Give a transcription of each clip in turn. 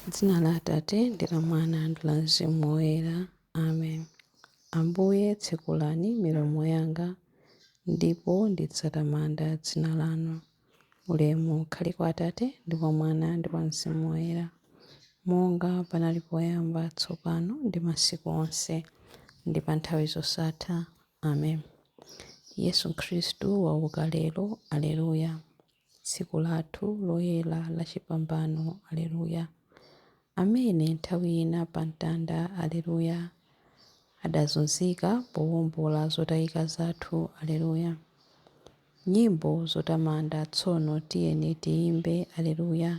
M'dzina la Atate ndi la Mwana ndi la Mzimu Woyera. Amen. Ambuye, tsekulani milomo yanga, ndipo ndidzatamanda dzina lanu. Ulemu ukhale kwa Atate ndi kwa Mwana ndi kwa Mzimu Woyera, monga panali poyamba, tsopano ndi masiku onse, ndi pa nthawi zosatha. Amen. Yesu Khristu wauka lero. Aleluya. Tsiku lathu loyera la chipambano, Aleluya! Amene nthawi ina pa mtanda, Aleluya! Adazunzika powombola zotayika zathu, Aleluya! Nyimbo zotamanda tsono tiyeni tiyimbe, Aleluya!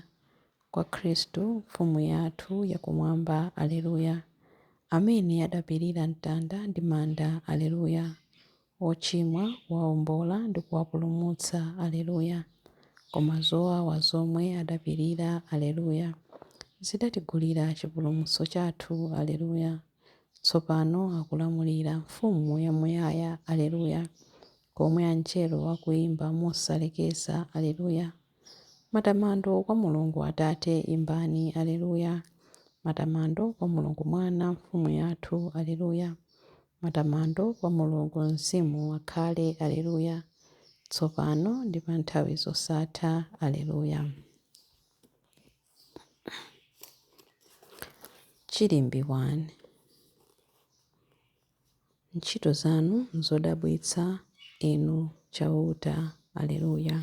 Kwa Khristu Mfumu yathu ya Kumwamba, Aleluya! Amene adapirira mtanda ndi manda, Aleluya! ochimwa, kuwaombola ndi kuwapulumutsa, Aleluya, koma zowawa zomwe adapirira, Aleluya, zidatigulira chipulumutso chathu, Aleluya, tsopano akulamulira, Mfumu yamuyaya, Aleluya, komwe Angelo akuimba mosalekeza, Aleluya. Matamando kwa Mulungu Atate, imbani Aleluya! Matamando kwa Mulungu Mwana, Mfumu yathu, Aleluya! Matamando kwa Mulungu Mzimu, akhale Aleluya! Tsopano ndi pa nthawi zosatha, Aleluya! Chilimbi 1. Ntchito zanu nzodabwitsa, Inu Chauta. Aleluya,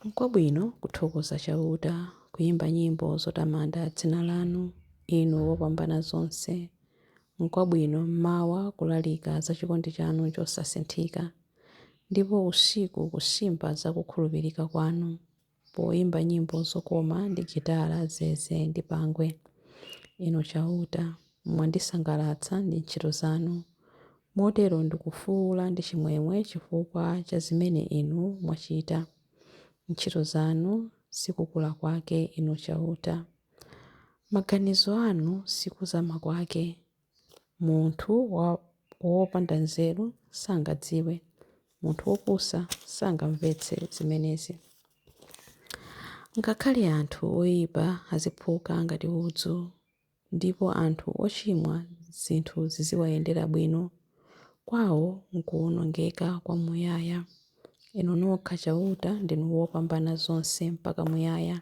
Nkwabwino kuthokoza Chauta, kuimba nyimbo zotamanda dzina lanu, Inu Wopambanazonse. Nkwabwino m'mawa kulalika za chikondi chanu chosasinthika, ndipo usiku kusimba za kukhulupirika kwanu. poimba nyimbo zokoma ndi gitala, zeze, ndi pangwe. Inu Chauta, mwandisangalatsa ndi ntchito zanu. Motero ndikufuula ndi chimwemwe chifukwa cha zimene Inu mwachita. Ntchito zanu si kukula kwake, Inu Chauta. Maganizo anu si kuzama kwake. Munthu wopanda nzeru sangadziwe, munthu wopusa sangamvetse zimenezi. Ngakhale anthu oipa aziphuka ngati udzu, ndipo anthu ochimwa zinthu ziziwayendera bwino, kwawo n'kuwonongeka kwamuyaya. Inu nokha Chauta ndinu Wopambanazonse mpaka muyaya.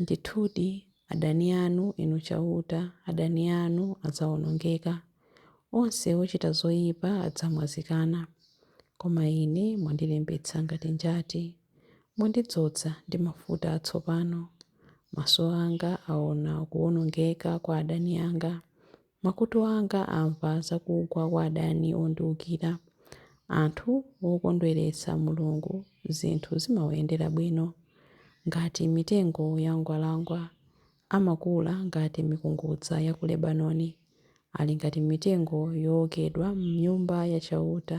Ndithudi, adani anu, Inu Chauta, adani anu adzaonongeka. Onse ochita zoipa adzamwazikana. Koma ine mwandilimbitsa ngati njati. Mwandidzoza ndi mafuta atsopano. Maso anga aona kuwonongeka kwa adani anga. Makutu anga amva za kugwa kwa adani ondiukira. Anthu okondweretsa Mulungu zinthu zimawayendera bwino ngati mitengo ya mgwalangwa. Amakula ngati mikungudza ya ku Lebanoni. Ali ngati mitengo yookedwa m'Nyumba ya Chauta.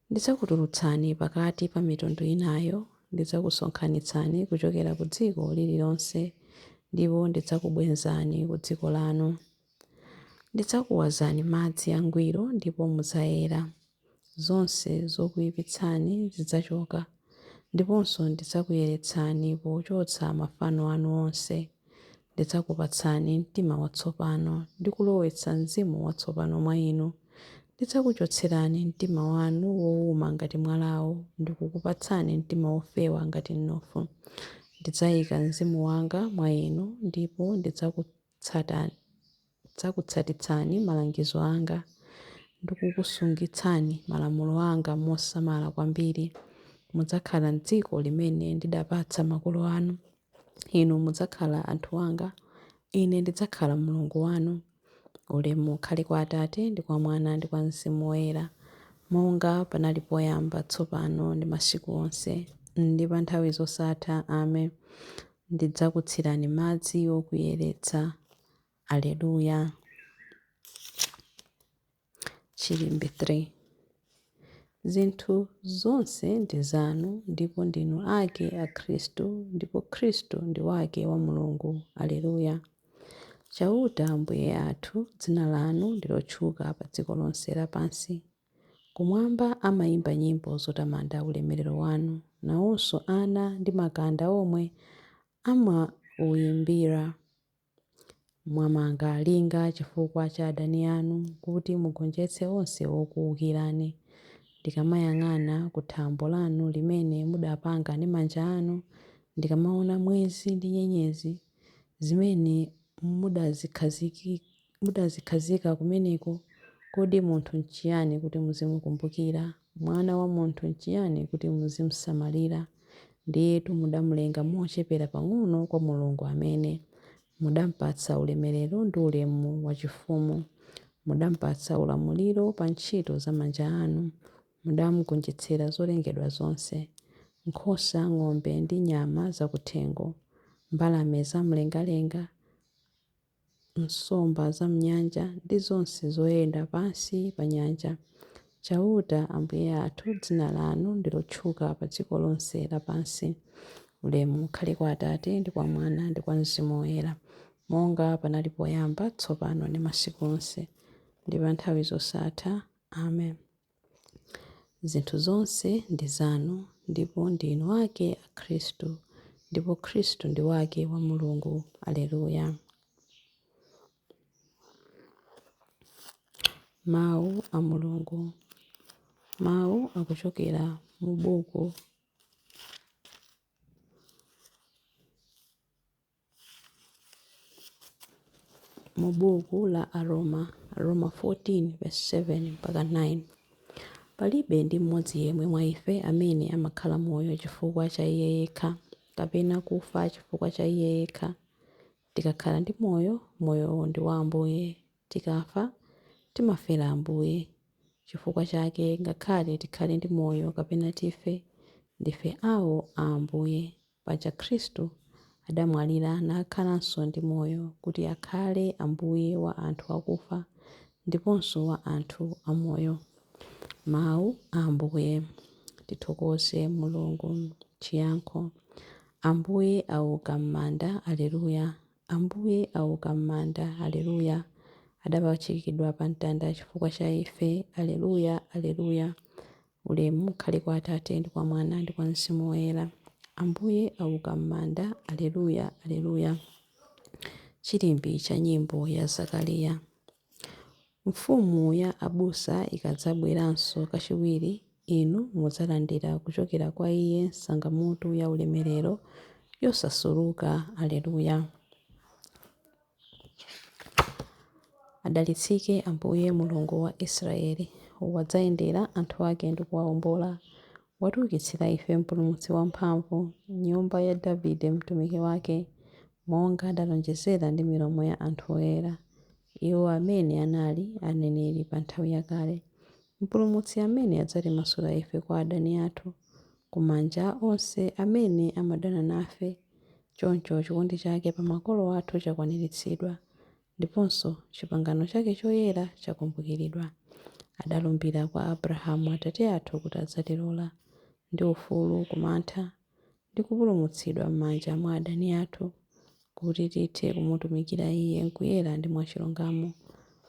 Ndidzakutulutsani pakati pa mitundu inayo, ndidzakusonkhanitsani kuchokera ku dziko lililonse, ndipo ndidzakubwenzani ku dziko lanu. Ndidzakuwazani madzi angwiro, ndipo mudzayera, zonse zokuipitsani zidzachoka, ndiponso ndidzakuyeretsani pochotsa mafano anu onse, Ndidzakupatsani mtima watsopano ndi kulowetsa mzimu watsopano mwa inu. Ndidzakuchotserani mtima wanu wouma ngati mwalawo ndi kukupatsani mtima wofewa ngati mnofu. Ndidzaika mzimu wanga mwa inu ndipo ndidzakutsatani. Ndidzakutsatitsani malangizo anga ndi kukusungitsani malamulo anga mosamala kwambiri. Mudzakhala m'dziko limene ndidapatsa makolo anu. Inu mudzakhala anthu anga, Ine ndidzakhala Mulungu wanu. Ulemu ukhale kwa Atate, ndi kwa Mwana, ndi kwa Mzimu Woyera, monga panali poyamba, tsopano, ndi masiku onse, ndi pa nthawi zosatha. Amen. Ndidzakutsirani madzi okuyeretsa. Aleluya. Chilimbe 3 Zinthu zonse ndi zanu ndipo ndinu ake a Khristu ndipo Khristu ndi wake wa Mulungu. Aleluya. Chauta Ambuye athu, dzina lanu ndi lotchuka pa dziko lonse lapansi. Kumwamba amayimba nyimbo zotamanda ulemerero wanu, nawonso ana ndi makanda omwe amauyimbira. Mwamanga linga chifukwa cha adani anu kuti mugonjetse onse okuukirani. Ndikamayang'ana ku thambo lanu limene mudapanga ndi manja anu, ndikamaona mwezi ndi nyenyezi zimene mudazikhazikitsa. Mudazikhazika kumeneko, kodi munthu n'chiyani kuti muzimukumbukira? Mwana wa munthu n'chiyani kuti muzim'samalira? Ndiyetu mudam'lenga mochepera pang'ono kwa Mulungu amene. Mudam'patsa ulemerero ndi ulemu wachifumu. Mudam'patsa ulamuliro pa ntchito za manja anu. Mudam'gonjetsera zolengedwa zonse. Nkhosa, ng'ombe ndi nyama zakuthengo. Mbalame zamlengalenga. nsomba za m'nyanja ndi zonse zoyenda pansi pa nyanja. Chauta, Ambuye athu, dzina lanu ndi lotchuka pa dziko lonse lapansi. Ulemu ukhale kwa Atate, ndi kwa Mwana, ndi kwa Mzimu Woyera, monga panali poyamba, tsopano ndi masiku onse, ndi pa nthawi zosatha. Amen. Zinthu zonse ndi zanu, ndipo ndi inu ake a Khristu, ndipo Khristu ndi wake wa Mulungu. Aleluya! Mawu a Mulungu. Mawu akuchokera mu buku mu buku la Aroma, Aroma 14 verse 7 mpaka 9. Palibe ndi mmodzi yemwe mwa ife amene amakhala moyo chifukwa cha iye yekha, kapena kufa chifukwa cha iye yekha. Tikakhala ndi moyo, moyowo ndi wa Ambuye, tikafa, timafera Ambuye. Chifukwa chake, ngakhale tikhale ndi moyo kapena tife, ndife awo a Ambuye. Paja Khristu adamwalira nakhalanso ndi moyo kuti akhale Ambuye wa anthu akufa ndiponso wa anthu amoyo. Mau a Ambuye. Tithokoze Mulungu. Chiyankho. Ambuye auka m'manda, Alleluia, Ambuye auka m'manda, Alleluia, Adapachikidwa pamtanda chifukwa cha ife, Alleluia, Alleluia, Ulemu ukhale kwa Atate, ndi kwa Mwana, ndi kwa Mzimu Woyera. Ambuye auka m'manda. Aleluya, Aleluya. Chilimbi cha nyimbo ya Zakariya. Mfumu ya abusa ikadzabweranso kachiwiri, inu mudzalandira kuchokera kwa Iye sangamutu ya ulemerero, yosasuluka. Aleluya. Adalitsike Ambuye, Mulungu wa Israeli, wadzayendera anthu ake ndi kuwaombola. Watiukitsira ife mpulumutsi wamphamvu, m'nyumba ya Davide mtumiki wake, monga adalonjezera ndi milomo ya anthu oyera, iwo amene anali aneneri pa nthawi yakale, Mpulumutsi amene adzatimasula ife kwa adani athu, ku manja a onse amene amadana nafe. Choncho chikondi chake pa makolo athu chakwaniritsidwa, ndiponso chipangano chake choyera chakumbukiridwa. Adalumbira kwa Abrahamu atate athu kuti adzatilola, ndi ufulu ku mantha, ndi kupulumutsidwa m'manja mwa adani athu, kuti tithe kumutumikira Iye m'kuyera ndi mwachilungamo,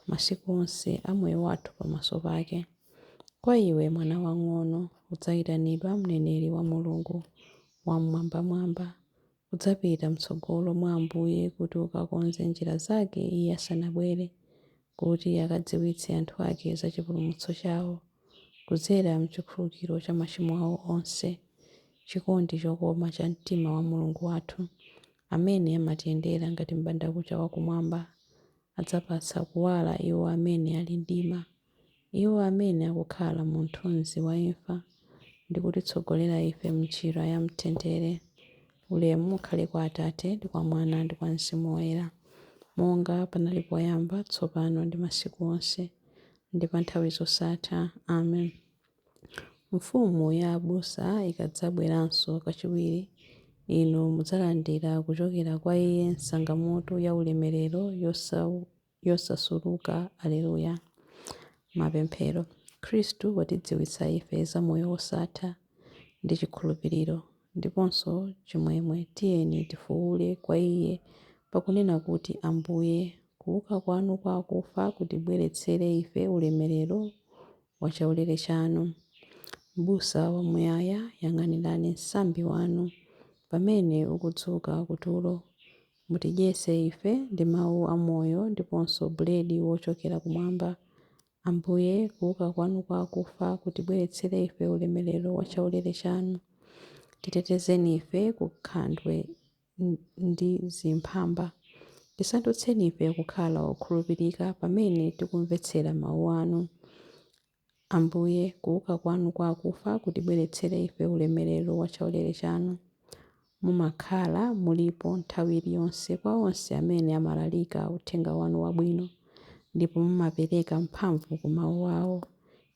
masiku onse a moyo wathu pamaso pake. Kwa iwe, mwana wamng'ono, udzaitanidwa mneneri wa Mulungu, Wam'mwambamwamba, udzapita m'tsogolo mwa Ambuye kuti ukakonze njira zake Iye asanabwere, kuti akadziwitse anthu ake za chipulumutso chawo, kudzera m'chikhululukiro cha machimo awo onse, chikondi chokoma cha mtima wa Mulungu wathu, amene amatiyendera ngati m'bandakucha wa kumwamba, adzapatsa kuwala iwo amene ali mdima. Iwo amene akukhala mu mthunzi wa imfa ndi kutitsogolera ife m'njira ya mtendere. Ulemu ukhale kwa Atate, ndi kwa Mwana, ndi kwa Mzimu Woyera, monga panali poyamba, tsopano, ndi masiku onse, ndi pa nthawi zosatha. Amen. Mfumu ya abusa ikadzabweranso kachiwiri, inu mudzalandira kuchokera kwa iye nsangamutu ya ulemerero yosa. yosasuluka. Aleluya! Mapemphero. Khristu watidziwitsa ife za moyo wosatha, ndi chikhulupiriro, ndiponso chimwemwe. Tiyeni tifuule kwa Iye, pakunena kuti, Ambuye, kuuka kwanu kwa akufa kutibweretsere ife ulemerero wa chaulere chanu. Mbusa Wamuyaya, yang'anirani msambi wanu pamene ukudzuka kutulo, Mutidyetse ife ndi Mawu a Moyo ndiponso Buledi wochokera Kumwamba, Ambuye, kuwuka Kwanu kwa akufa kutibweretsere ife ulemerero wa chaulere Chanu. Titetezeni ife ku nkhandwe ndi zimphamba. Tisandutseni ife kukhala okhulupirika pamene tikumvetsera Mawu Anu. Ambuye, kuuka Kwanu kwa akufa kutibweretsere ife ulemerero wa chaulere Chanu. Mumakhala, mulipo, nthawi iliyonse, kwa onse amene amalalika uthenga Wanu wabwino, ndipo mumapereka mphamvu ku mawu awo.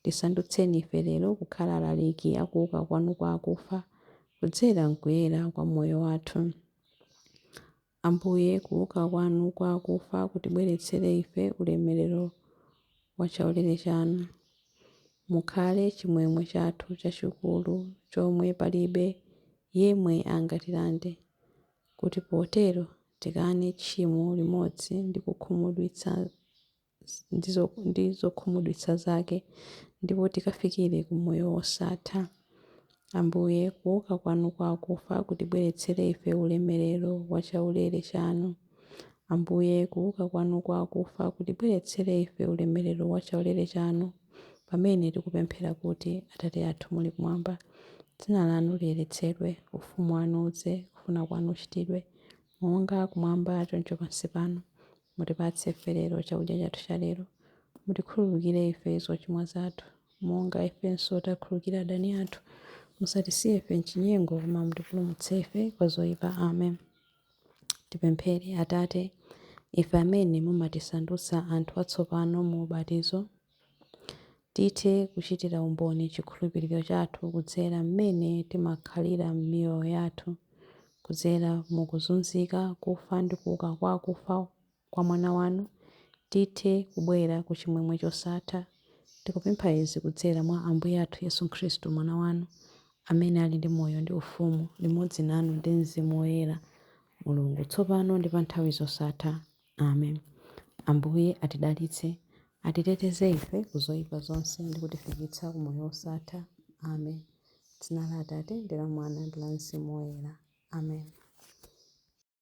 Tisandutseni ife lero kukhala alaliki a kuuka Kwanu kwa akufa, kudzera m'kuyera kwa moyo wathu. Ambuye, kuuka Kwanu kwa akufa kutibweretsere ife ulemerero wa chaulere Chanu. Mukhale chimwemwe chathu chachikulu chomwe palibe yemwe angatilande, kuti potero tikane tchimo limodzi ndi kukhumudwitsa zonse. ndi zokhumudwitsa zake ndipo tikafikire ku moyo wosatha. Ambuye, kuuka kwanu kwa akufa kutibweretsere ife ulemerero wa chaulere chanu. Ambuye, kuuka kwanu kwa akufa kutibweretsere ife ulemerero wa chaulere chanu, pamene tikupemphera kuti, Atate athu muli kumwamba, dzina lanu liyeretsedwe, ufumu wanu udze, kufuna kwanu kuchitidwe, monga kumwamba choncho pansi pano. Mutipatse ife lero chakudya chathu cha lero. Mutikhululukire ife zochimwa zathu, monga ifenso tikhululukira adani athu. Musatisiye ife m'chinyengo, koma mutipulumutse ife kwa zoipa. Amen. Tipemphere. Atate, ife amene mumatisandutsa anthu atsopano mu ubatizo, Tithe kuchitira umboni chikhulupiriro chathu kudzera mmene timakhalira m'miyoyo yathu, kudzera mu kuzunzika, kufa ndi kuuka kwa akufa kwa Mwana wanu, tithe kubwera ku chimwemwe chosatha. Tikupempha izi kudzera mwa Ambuye athu Yesu Khristu, Mwana wanu, amene ali ndi moyo ndi ufumu limodzi nanu ndi Mzimu Woyera, Mulungu, tsopano ndi pa nthawi zosatha. Amen. Ambuye atidalitse, atiteteze ife ku zoyipa zonse ndi kutifikitsa ku moyo wosatha. Amen. M'dzina la Atate ndi la Mwana ndi la Mzimu Woyera. Amen.